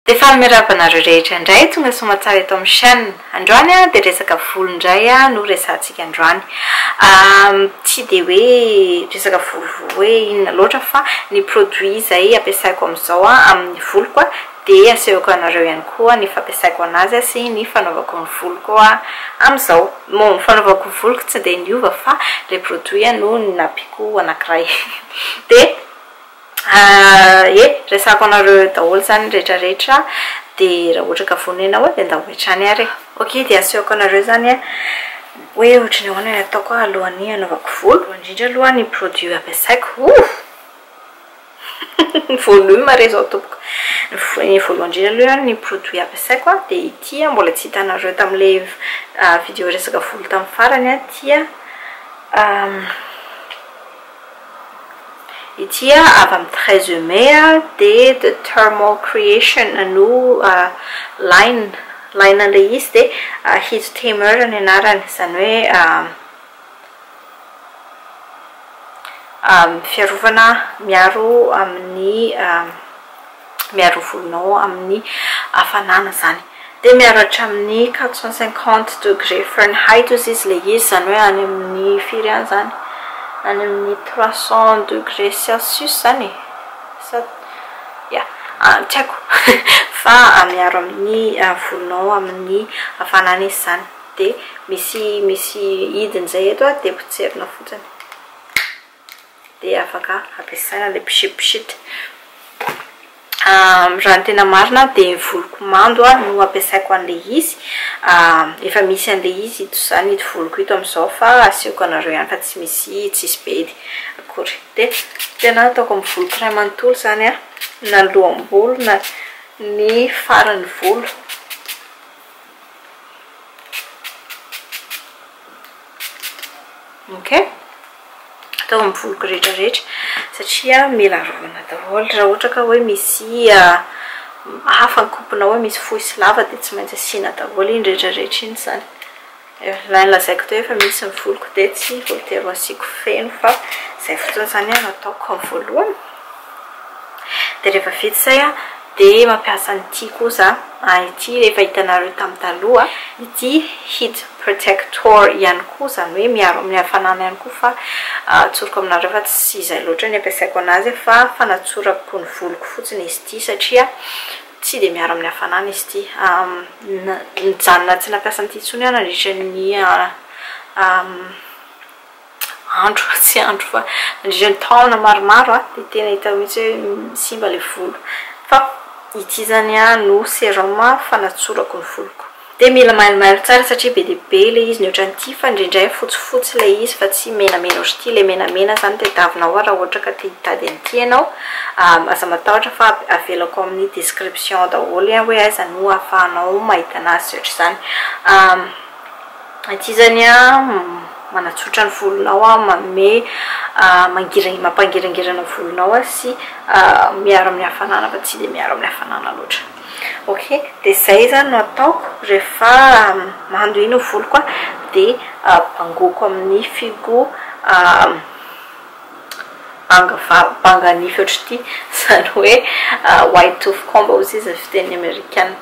Dia faly miarahaba anareo rehetra indray tonga soamatsara eto amin'ny chaîne. Androany a dia resaka volo indray no resahantsika androany. Tsy dia hoe resaka volo hoe inona loatra fa ny produit izay ampiasaiko amin'izao amin'ny voloko a dia asehoko anareo ihany koa ny fampiasaiko an'azy sy ny fanaovako ny voloko amin'izao. Bon, ny fanaovako ny voloko tsy dia niova fa ilay produit no nampiako anankiray. Dia. Ah eh, resako anareo eo daholo izany ny rehetra rehetra a, dia raha ohatra ka vonona ianao dia ndao hatrany ary e. Ok dia asehoko anareo izany a, hoe ohatry ny ahoana ny ataoko a alohan'ny hanaovako volo. Voalohany indrindra aloha ny produit ampiasaiko, oh! Volume re izao tompoko. Ny voalohany indrindra aloha ny produit ampiasaiko a, dia ity a, mbola tsy hitanareo tamin'ilay video resaka volo tamin'ny farany a, ity a, Ity avy amin'ny treize mai dia the thermal creation no line line an'ilay izy dia heat tamer ny anarany izany hoe fiarovana miaro amin'ny Miaro volonao amin'ny hafanana izany dia miaro hatramin'ny quatre cent cinquante degré Fahrenheit ozy izy ilay izy, izany hoe any amin'ny firy any izany? any amin'ny trois cent degré Celsius izany e? sa ya, tsy haiko fa miaro amin'ny volonao amin'ny hafanana izy izany, dia misy misy hidiny izay eto dia potserina fotsiny. dia afaka ampiasaina ilay pchit pchit. Raha ny tena marina dia ny voloko mando no ampiasaiko an'ilay izy. Efa misy an'ilay izy ito izany ito voloko ito amin'izao fa asehoko anareo ihany fa tsy misy tsisy bedy akory. Dia tena ataoko amin'ny voloko iray manontolo izany an, na ny loham-bolo na ny faran'ny volo. Ok. atao amin'ny voloko rehetra rehetra satria mila arovana daholo raha ohatra ka hoe misy hafa ny kopinao hoe misy fohy sy lava dia tsy maintsy asiana daholo iny rehetra rehetra iny izany ilay nolazaiko teo efa misy ny voloko dia tsy voatery ho asiako feno fa izay fotsiny izany no ataoko voalohany dia rehefa vita izay an De mampiasa an'ity kosa an ity rehefa hitanareo tam taloha ity heat protector ihany koa zany hoe miaro amin'ny hafanana ihany koa fa atsoriko aminareo fa tsy izay loatra ny ampiasaiko anazy fa fanatsorako ny voloko fotsiny izy ity satria tsy de miaro amin'ny hafanana izy ity nijanona tsy nampiasa an'ity intsony aho nandritra ny andro fa tsy andro fa nandritra ny taona maromaro dia tena hita mihitsy hoe simba ilay volo fa ity zany no serum fanatsorako ny voloko dia mila mailomailo tsara satria be dia be ilay izy ny ohatran'ity fa indraindray fotsifotsy ilay izy fa tsy menamena ohatr'ity ilay menamena zany tadiavina ao raha ohatra ka te hitady an'ity ianao aza matahotra fa avelako amin'ny description daholo hoe aiza no ahafahanao mahita an'azy sy ohatr'izany Aty zany a manatsotra ny volonao a manome mangira mampangirangirana volonao a sy miaro amin'ny hafanana fa tsy dia miaro amin'ny hafanana loatra ok dia zay zany no ataoko rehefa mando iny ny voloko a dia bangoiko amin'ny fihogo Banga va? Banga nify ohatr'ity, izany hoe white tooth comb ozy izy ny fitenin'ny amerikana.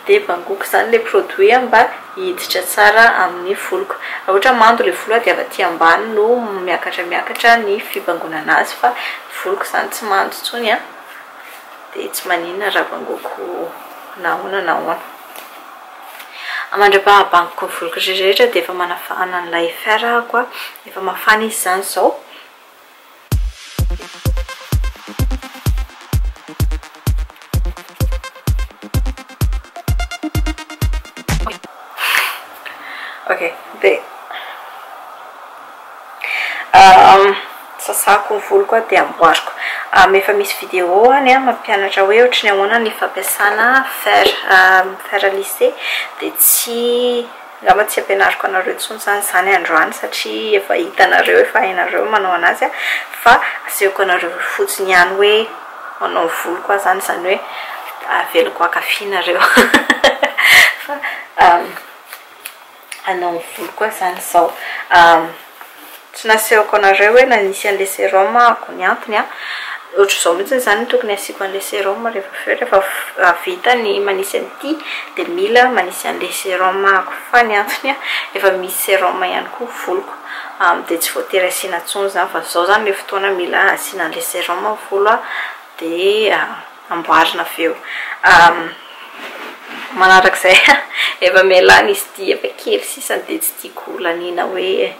Dia bangoko izany ilay produit mba hiditra tsara amin'ny voloko. Raha ohatra mando ilay volo aho dia avy aty ambany no miakatra miakatra ny fibangonana azy fa ny voloko izany tsy mando intsony an! Dia tsy maninona raha bangoko na ahoana na ahoana. Mandra-pahabangoiko ny voliko rehetrarehetra dia efa manafahana an'ilay fer ahako an. Efa mafana izy izany izao. Ok, dia. Sasako ny voloko aho dia amboariko. Efa misy vidéo any mampianatra hoe ohatry ny ahoana ny fampiasana fer. Fer à lisser. Dia tsy, angamba tsy ampianariko anareo intsony izany izany androany satria efa hitanareo, efa hainareo ny manao anazy. Fa asehoko anareo fotsiny ihany hoe manao ny voloko aho izany, izany hoe avelako haka fy nareo. hanao ny voloko aho zany izao tsy nasehoko anareo hoe nanisy an'ilay serum aho ny antony an, ohatr'izao mihitsy izany no tokony hasiako an'ilay serum rehefa avy eo rehefa vita ny manisy an'ity dia mila manisy an'ilay serum aho fa ny antony an efa misy serum ihany koa ny voloko dia tsy voatery asiana intsony izany fa izao izany ilay fotoana mila asiana an'ilay serum ny volo an dia amboarina avy eo manaraka izay efa mialany izy ity efa kely sisa dia tsy tiako ho laniana hoe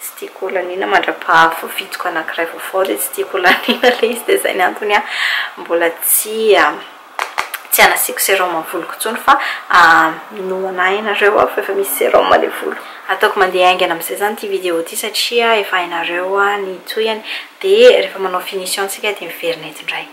tsy tiako ho laniana mandra-paha-voavitiko anankiray vaovao dia tsy tiako ho laniana ilay izy dia izay ny antony an mbola tsy tsy anasiako sérum amin'ny voloko intsony fa minoana ahy ianareo aho fa efa misy sérum any volo ataoko mandeha haingana amin'izay izany ity vidéo ity satria efa hainareo ny tohiny dia rehefa manao finition isika dia miverina eto indray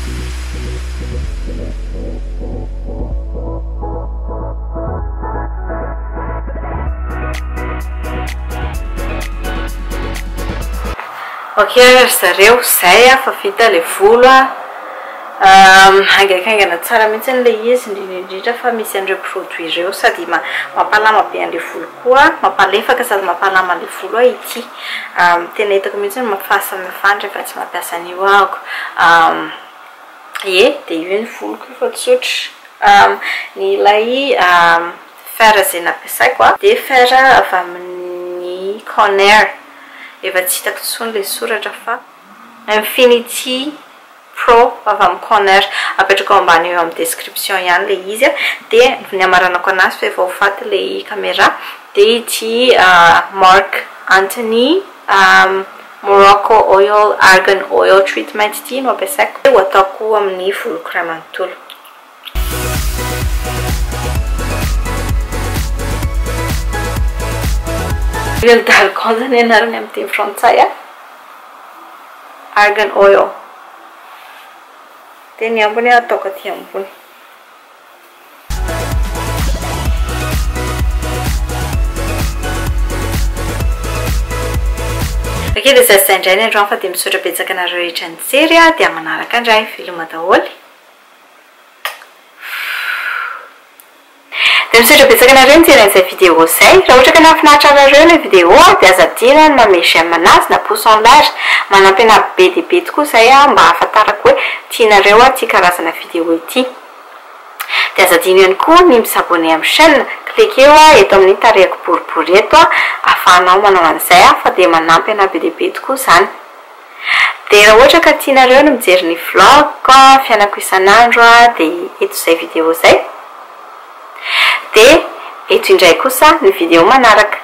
Ok ry zareo, izay a, fa vita ilay volo a, haingaikaingana tsara mihitsy ilay izy, indrindra indrindra fa misy an'ireo produits ireo, sady mampalama be an'ilay volo koa, mampalefaka sady mampalama an'ilay volo ity. Tena hitako mihitsy ny mafafa amin'ny fandry fa tsy mampiasa an'io aho. Ie, dia io ny voloko io fa tsotra. Ny ilay fer izay nampiasaiko dia fer avy amin'ny Conair. Efa tsy hitako intsony ilay soratra fa Infinity. Pro avy amin'ny Coner, apetrako ambany eo amin'ny description ihany ilay izy a, dia ny hamaranako anazy fa efa ho faty ilay camera dia ity Marc Anthony Morocco Oil Argan Oil Treatment ity no ampiasaiko, dia ho ataoko amin'ny voloko iray manontolo. Huile d'argan zany anarany amin'ny teny frantsay a. Argan oil. Dia ny ambiny a ataoko aty ambony. Ok dia zay sy zay indray ny androany fa dia misaotra betsaka anareo rehetra nijery a dia manaraka indray. Veloma daholo e. Dia misaotra betsaka anareo nijery an'izay vidéo izay. Raha ohatra ka nahafinaritra anareo ilay vidéo dia aza adino ny manome j'aime anazy na pouce en l'air. Manampy anà be dia be tokoa izay aho mba hahafantarako hoe tianareo ity karazana vidéo ity. Dia aza adino ihany koa ny mi s'abonner amin'ny chaîne. Cliquer eo eto amin'ny tarehiko boribory eto ahafahanao manao an'izay fa dia manampy anà be dia be tokoa izany. Dia raha ohatra ka tianareo ny mijery ny vlog-ko fiainako isan'andro dia eto izay video izay. Dia eto indray kosa ny video manaraka.